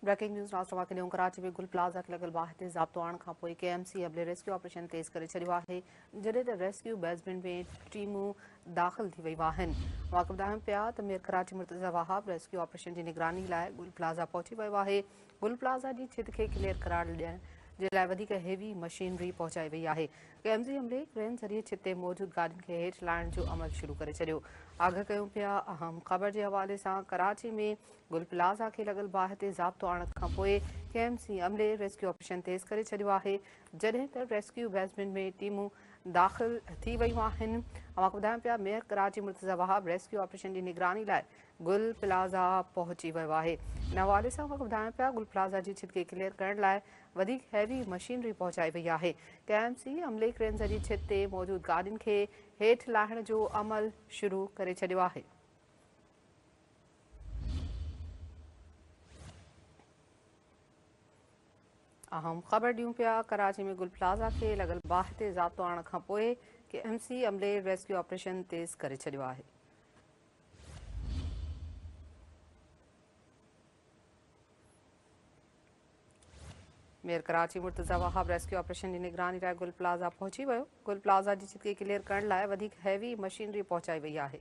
Breaking news ناز توهان کي ڏيون ڪراچي ۾ گل پلازا کي لڳل باهه تي ضابطو آڻڻ کان پوء ڪي ايم سي عملي ريسڪيو آپريشن تيز ڪري ڇڏيو آهي جڏهن ته ريسڪيو بيسمينٽ ۾ ٽيمون داخل ٿي ويون آهن واقع ٻڌايون پيا ته mayor Karachi Murtaza Wahab rescue operation جي نگراني لاء گل پلازا پهچي ويو آهي گل پلازا جي ڇت کي ڪليئر قرار ڏيڻ جي لاء وڌيڪ هيوي مشينري پهچائي وئي آهي ڪي ايم سي عملي ڪرين ذريعي ڇت تي موجود گاڏين کي هيٺ لاهڻ جو عمل شروع ڪري ڇڏيو آگاهه ڪيون پيا اهم خبر جي حوالي سان ڪراچي ۾ گل پلازا کي لڳل باهه تي ضابطو آڻڻ کانپوء ڪي ايم سي عملي ريسڪيو آپريشن تيز ڪري ڇڏيو آهي جڏهن ته ريسڪيو بيسمينٽ ۾ ٽيمون داخل ٿي ويون آهن اوهان کي ٻڌايون پيا mayor Karachi Murtaza Wahab rescue operation جي نگراني لاء گل پلازا پهچي ويو آهي ان حوالي سان اوهان کي ٻڌايون پيا گل پلازا جي ڇت کي ڪليئر ڪرڻ لاء وڌيڪ هيوي مشينري پهچائي وئي آهي ڪي ايم سي عملي ڪرين ذريعي ڇت تي موجود گاڏين کي هيٺ لاهڻ جو عمل شروع ڪري ڇڏيو آهي اهم خبر ڏيون پيا ڪراچي ۾ گل پلازا کي لڳل باهه تي ضابطو آڻڻ کان پوء ڪي ايم سي عملي ريسڪيو آپريشن تيز ڪري ڇڏيو آهي mayor Karachi Murtaza Wahab rescue operation جي نگراني لاء گل پلازا پهچي ويو گل پلازا جي چتي ڪليئر ڪرڻ لاء وڌيڪ هيوي مشينري پهچائي وئي آهي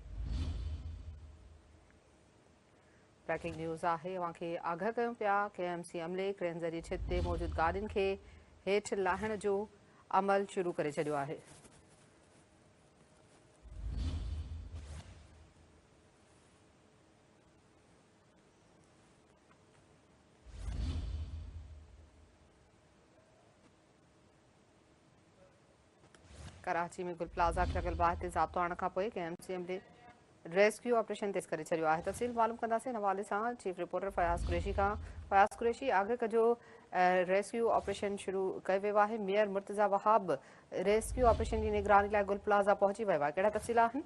بريڪنگ نيوز آهي اوهان کي آگاهه ڪيون پيا ڪي ايم سي عملي ڪرين ذريعي ڇت تي موجود گاڏين کي هيٺ لاهڻ جو عمل شروع ڪري ڇڏيو آهي ڪراچي ۾ گل پلازا کي لڳل باهه تي ضابطو آڻڻ کان پوء K M C M D rescue operation تيز ڪري ڇڏيو آهي تفصيل معلوم ڪنداسين ان حوالي سان چيف رپورٽر فياض قريشي کان فياض قريشي آگهه ڪجو ریسڪيو آپريشن شروع ڪيو ويو آهي mayor Murtaza Wahab rescue operation جي نگراني لاء گل پلازا پهچي ويو آهي ڪهڙا تفصيل آهن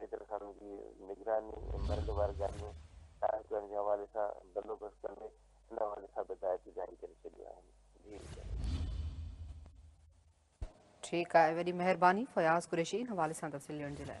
حيدر خان جي نگراني ۽ مرنڊ واري گاڏيون قائم ڪرڻ جي حوالي سان بندوبست ڪندي ان حوالي سان به هدايتون جاري ڪري ڇڏيون آهن جي ضرور. ٺيڪ آهي وڏي مهرباني فياض قريشي ان حوالي سان تفصيل ڏيڻ جي لاء.